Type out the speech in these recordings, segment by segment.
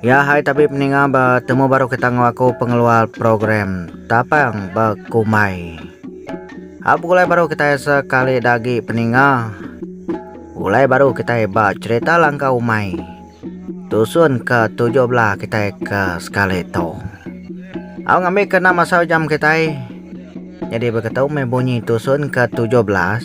Ya hai tabib ninga ba temu baru kita enggau aku pengeluar program tapang ba kumbai. Hak begulai baru kitai sekali da agi peninga. Ulai baru kitai ba cerita langka umai. Tusun ke tujuh belah kitai ke sekali tu. Au ngambi ke enam asau jam kitai. Jadi begitu meh bunyi tusun ke tujuh belas.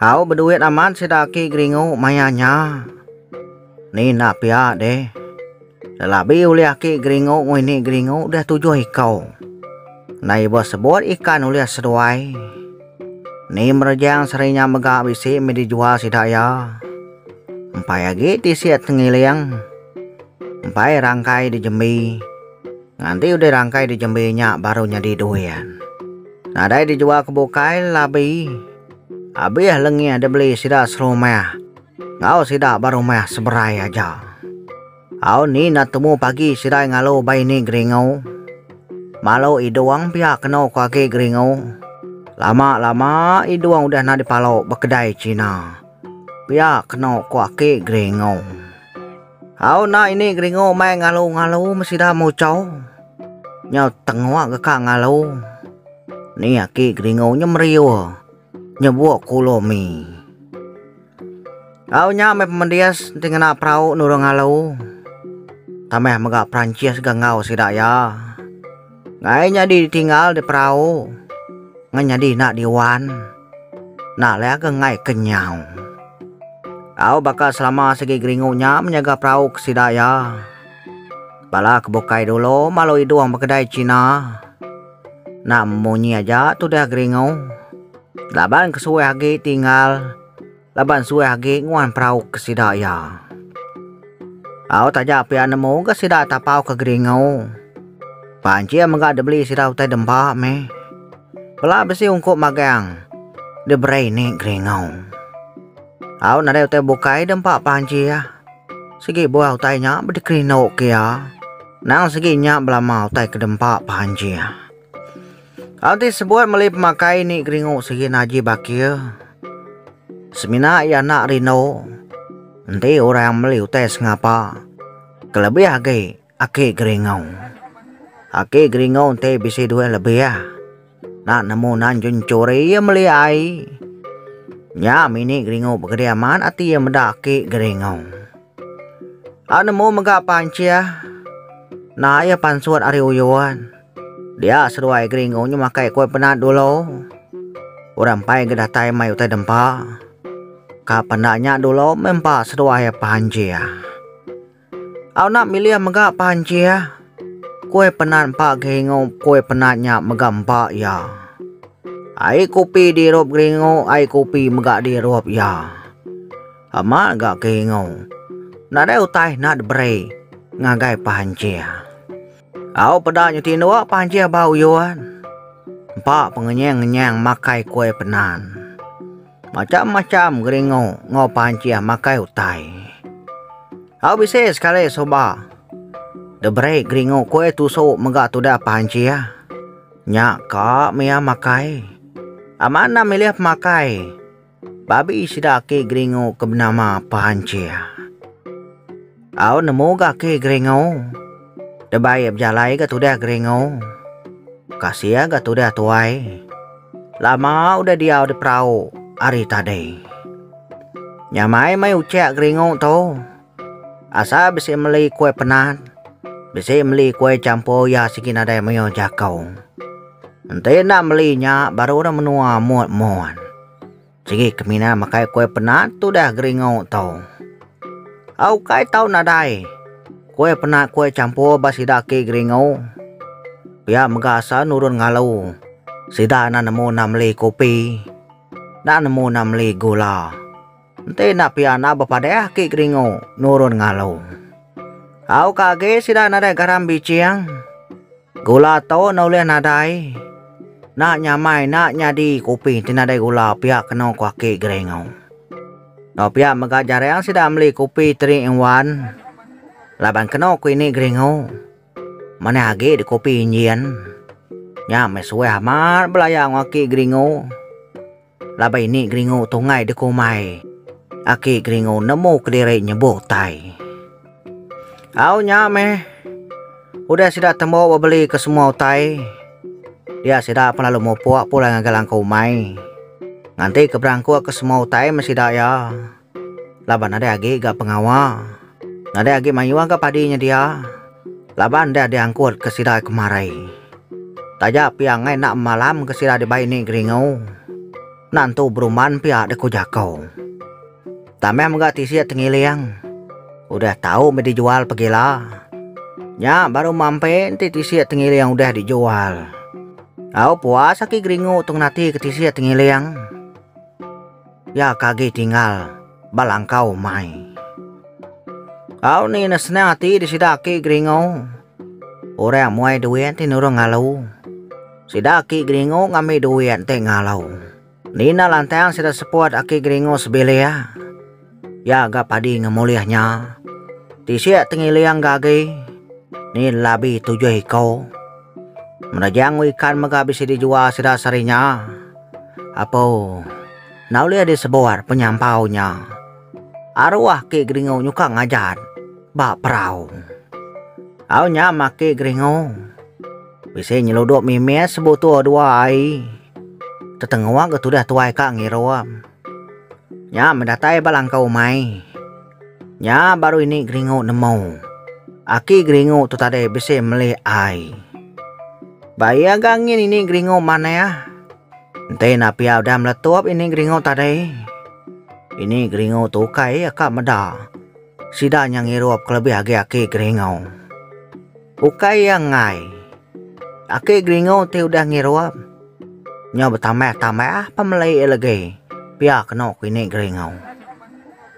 Au beduit amat sida aki geringu maya nya. Ni enda pia deh. Selabi ulih aki geringu nguini geringu deh tujuh iku. Ndai ibuh sebut ikan ulih seduai. Ni merejang seri nya mega bisi mih dijual sida iya. Empai agi tisi tengiling. Empai rangkai dijembi. Nganti udah rangkai di jembi nya baru nyadi duin. Nadai di jual ke bukai labi. Abih lengih di beli sida serumah. Ngau sida ba rumah seberai aja. Au ni enda temu pagi sidai ngalu ba ini geringu. Malu idung pia keno ko agi geringu. Lama lama idung udah enda di palo ba kedai cina. Pia keno ko aki geringu. Au enda ini geringu mai ngalu-ngalu meh sida muchau. Nyau tengok deka ngalu. Ni aki geringu nya meriuh. Nyebuk kulu mi. Au nya meh pemendis enti ngena perau nurung ngalu. Tambah mega Perancis ga enggau sida iya. Ngai nyadi ditinggal di perau. Ngai nyadi enda diwan. Enda alai aga ngai ke nyau. Au baka selama sigi geringu nya menyaga perau ke sida iya. Bala ke bukai dulu malu idung ba kedai China. Enda memunyi aja tudah geringu. Laban ke suah agi tinggal. Laban suah agi nguan perau ke sida iya. Au taja pia nemu ga sida tapau ke geringu. Pancing mega dibeli sida utai dempa meh. Bela bisi ungkup magang diberi ni geringu. Au nadai utai bukai dempa pancing. Sigi buah utai nya bedikerindu ke iya. Nang sigi nya belama utai ke dempa pancing. Enti sebuat meli pemakai ni geringu sigi naji bakir semina iya enda rindu enti orang meli utai sengapa kelebih agi aki geringu. Aki geringu enti bisi duit lebih enda nemu nan jenchuri iya meli ai. Nya mini geringu begedi amat ati iya meda aki geringu. Au nemu mega pancih naik iya pansut ari uyun. Dia seduai Gringo nyu makai kue penat dulu. Orang empai ke datai mai utai dempa. Ka penda nya dulu mempa seduai Panjie. Au enda milih mega Panjie. Kue penat empa Gringo kue penat nya mega empa iya. Ai kopi dirup Gringo ai kopi mega dirup iya. Ama ga Gringo nadai utai enda diberi ngagai Panjie. Au peda nyu tinduk panjih ba uyun. Empa pengenyang-ngenyang makai kuai penan. Macham-macham geringu enggau panjih makai utai. Au bisi sekali suba deberi geringu kuai tusu mega tudah panjih. Nya ka mih iya makai. Amat endang milih pemakai. Babi sida Aki Geringu ke benama Pancir. Au nemu ga Aki Geringu. Deba iya bejalai ga tudah Geringu. Kasih ga tudah tuai. Lama udah diau di perau ari tadi. Nyamai mai ucak Geringu tu. Asa bisi meli kuai penat, bisi meli kuai champur iya sigi nadai mayuh jaku. Enti enda meli nya baru udah menua mut mun. Sigi ke mina makai kuai penat tudah geringu tu. Au ukai tau nadai kuai penat kuai champur ba sida agi geringu. Pia mega asa nurun ngalu sida enda nemu enda meli kopi, enda nemu enda meli gula. Enti enda pia enda bepadah aki geringu nurun ngalu. Au ka agi sida nadai garam biching. Gula tu enda ulih nadai. Enda nyamai enda nyadi kopi ti nadai gula pia kena ku aki geringu. Enda pia mega jarang sida meli kopi teri eng wan laban kena ku ini geringu manah agi di kopi injin. Nya meh suah amat belaya enggau aki geringu. Laban ini Geringu tunggai dekumai. Aki Geringu nemu kediri nyebu utai. Au nya meh. Udah sida tembu bebeli ke semua utai, dia sida pun lalu mupuk pulai ngagai langkau umai. Nganti ke berangkuk ke semua utai meh sida iya. Laban nadai agi ga pengawa. Nadai agi mayuh ga padi nyedia. Laban deh diangkut ke sida kemari. Taja pia ngai enda malam ke sida dibai ni geringu. Enda entu berumban pia deh ku jako. Tameh mega tisi tengiling. Udah tau mih dijual pegila. Nya baru mampi enti tisi tengiling udah dijual. Au puas aki geringu tu ngenati ke tisi tengiling. Iya ke agi tinggal ba langkau umai. Au ni ne senang ati di sida aki Geringo. Orang muai duit ti nurung ngalu. Sida aki Geringo ngambi duit enti ngalu. Nina lantang sida seput aki Geringo sebilik. Iya ga padi ngemulih nya. Tisik tengiling ga agi. Ni labi tujuh iko. Menejang ikan mega bisi dijual sida sehari nya. Apo, enda ulih deh sebuar penyampau nya. Aruah ke geringu nyuka ngajat ba perau. Au nya make geringu. Bisi nyeludup mimit sebutuh dua ai. Tetengok ke tudah tuai ka ngirup. Nya medatai ba langkau umai. Nya baru ini Geringu nemu. Aki Geringu tu tadi bisi meli ai. Ba iya ga ngin ini Geringu manah. Enti enda pia udah meletup ini Geringu tadi. Ini Geringu tu ukai iya ka meda. Sida nya ngirup kelebih agi Aki Geringu. Ukai iya enggai. Aki Geringu ti udah ngirup. Nya betambah-tambah pemeli iya legi. Pia kenu ku ini Geringu.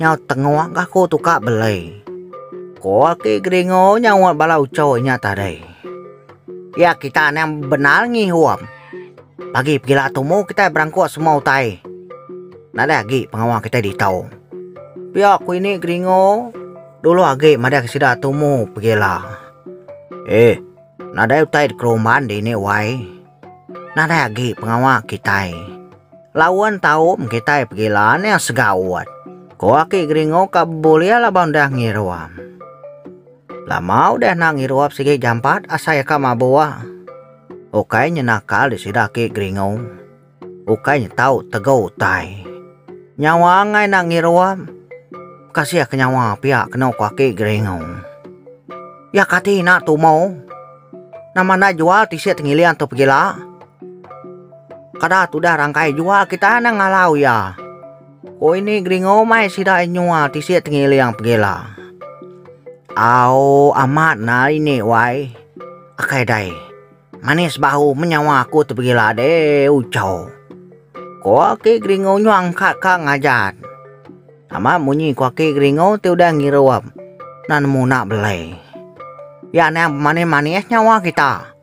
nyau tengok ga ko tu ka belei. Ko aki Geringo nyaut bala ucho nya tadi. Ya kita nang bendar ngihum. Pagi pegila tumu kitai berangkok semua utai. Nadai agi pengawa kitai ditu. Pia ku ini Geringo, dulu agi madahka sida tumu pegila. Eh, nadai utai dikeruman dini wai. Nadai agi pengawa kitai. Laun taum kitai pegila nih segaut. Ko aki Geringo ka bebulih laban udah ngirup. Lama udah enda ngirup sigi jampat asai ka mabuh. Ukai nyenakal di sida aki Geringo. Ukai nyetau tegu utai. Nyawa angai enda ngirup. Kasih ke nyawa pia keno ko aki Geringo. Ya kati ina tumo. Nama enda jual tisi tengiling tu pegila. Kada tudah rangkai jual kita enda ngalau iya. Ko ini Gringo mai sida iya nyual tisi tengiling pegila. Au amat nah ini wai. Akai dai. Manis bahu menyawa aku tu pegila deh uco. Ko aki Gringo nyuang ka ka ngajat. Nama munyi ku aki Geringo ti udah ngiru am na nemu na belai. Ya niang pemanis-manis nyawa kita.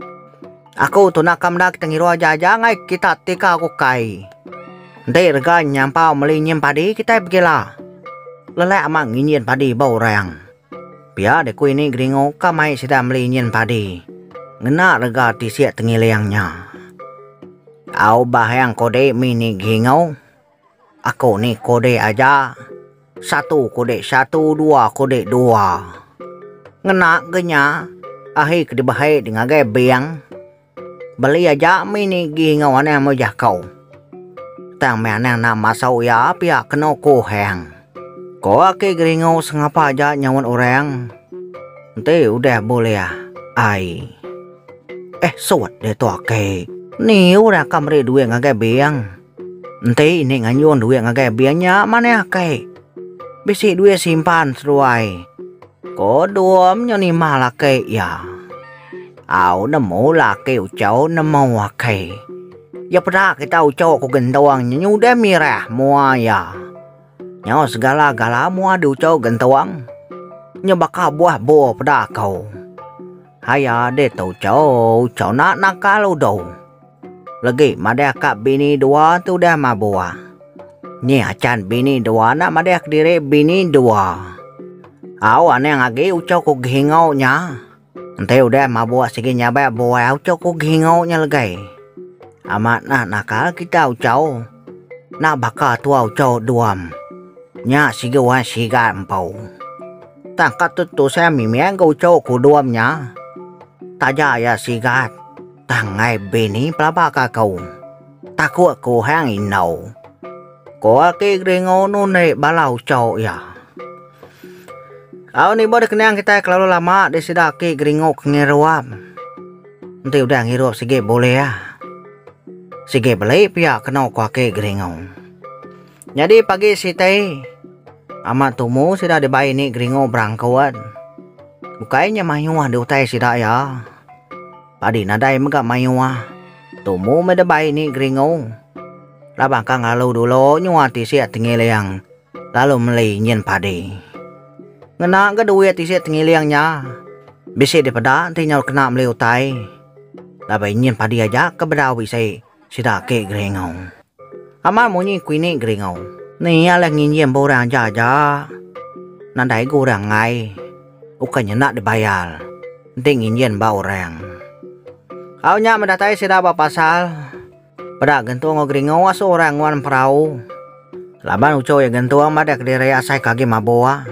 Aku tu naka meda kita ngiru aja-aja ngai kita tika ku kai. Enti rega nyampau meli nyim padi kitai pegila. Lelak amat nginjin padi ba orang. Pia deh ku ini Geringo ka mai sida meli injin padi ngena rega ti siak tengiling nya. Au Bahiang Kodi mih ni Geringo. Aku ni kudi aja, satu kudi satu dua kudi dua. Ngena ke nya ahi ke dibehe di ngagai bank beli aja me ni gi enggau anang mejah ko. Tang me anang enda masau iya pia keno kuhang. Ko ake geringo sengapa aja nyauan orang enti udah bulih ai. Eh sut ditu ake, ni orang ka meri duit ngagai bank. Enti ini ngayun duit ngagai bih nya manah ake. Bisi duit simpan seduai. Ko Dom nyo nimah laki iya. Au nemu laki Ucho nemu ake. Iya peda kita Ucho ko Gentung nyo nyudah mirah mua iya. Nyo segala-gala mua di Ucho Gentung. Nyo baka buah bur peda ko. Haiya deh tu Ucho, Ucho nak nakal udo. Legi madah ka bini dua tu udah mabuh. Nyi acan bini dua enda madah kediri bini dua. Au anang agi uchu ku Gihingau nya. Enti udah mabuh sigi nyabak buah uchu ku Gihingau nya legai. Amat nah nakal kita uchu. Enda baka tua uchu Duam. Nya sigi wan sigat empu. Tang ka tu tusang mimik ga uchu ku Duam nya. Taja iya sigat. Tang ngai bini pelaba ka aku. Taku aku hang indau. Ko aki Geringo nunde bala ucho iya. Au ni ba dikenyang kitai kelalu lama di sida aki Geringo ke ngirup. Enti udah ngirup sigi bulih. Sigi beli pia keno ko aki Geringo. Nyadi pagi sitai, Amat Tumu sida dibai ni Gringo Brangkut. Bukai nya mayuh diutai sida iya. Padi nadai mega mayuh, Tumu meh dibai ni Gringo. Laban ka ngelalu dulu nyua tisi tengiling lalu meli nyin padi. Ngena ga duit tisi tengiling nya, bisi dipeda enti nyau kena meli utai. Laban nyin padi aja ke bedau bisi. Sida ake geringau. Amat munyi kuini geringau. Ni iya leh nginjin ba orang aja aja. Nadai ga orang enggai. Ukai nyenda dibayar. Enti nginjin ba orang. Au nya medatai sida ba pasar. Peda gentu enggau geringau asu orang nguan perau. Laban uchu iya gentung madah kediri asai ke agi mabuk.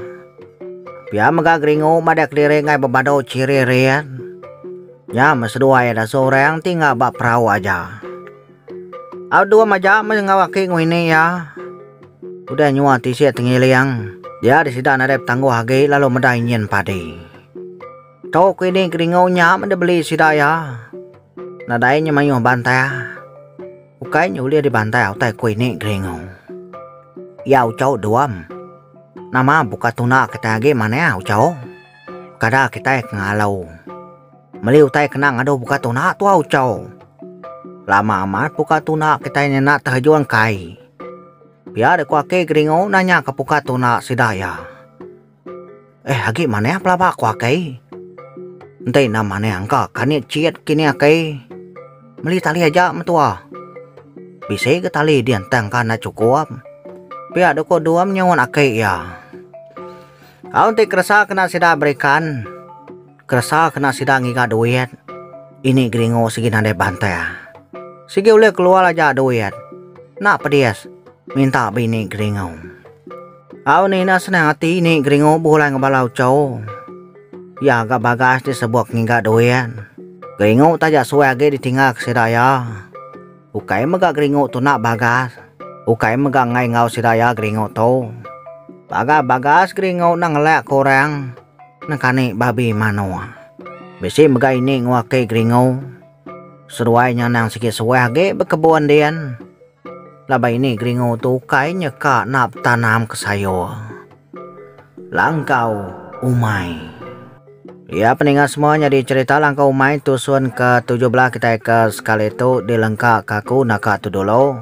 Pia mega geringu madah kediri ngai bebadu chiri rian. Nya meh seduai iya dasu orang ti enggau ba perau aja. Au dua maja meh enggau aki ngwini iya. Udah nyua tisi tengiling, dia di sida nadai petangguh agi lalu meda injin padi. Tu kini kedingau nya meda beli sida iya. Nadai nya mayuh bantah. Ukai nya ulih dibantah utai ku ini kedingau. Iya ucau duam. Nama buka tuna kitai agi manah ucau. Kada kitai ke ngalau. Meli utai kena ngadu buka tuna tua ucau. Lama amat buka tuna kitai nyena tehejun kai. Pia dek ku aki kedingau nanya ke buka tuna sida iya. Eh agi manah pelaba ku akai. Enti enda manah engka kani cit kini akai. Meli tali aja mentua. Bisi ga tali di entang ka enda chukup. Pia doh ko dua menyuan akai iya. Au enti keresa kena sida berikan. Keresa kena sida ngiga duit. Ini geringu sigi nadai bantal. Sigi ulih keluar aja duit. Enda pedis minta bini geringu. Au ni enda senang ati ini geringu buh lai ngebala uchu. Iya ga bagas disebok ngiga duit. Geringu taja suai agi ditinggal ke sida iya. Ukai mega geringu tu enda bagas. Ukai mega enggai enggau sida iya geringu tu. Pagar bagas geringu enda ngelak ke orang. Nekani babi manoa. Bisi mega ini nguaki geringu. Seduai nya anang sigi suah agi bekebun din. Laban ini geringu tu ukai nyeka enda betanam ke sayur. Langkau umai. Iya peninga semua nyadi cherita langkau umai tusun ke tujuh belah kitai ke sekali tu dilengka ka aku naka tu dulu.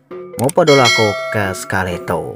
Mupa dulu aku ke sekali tu.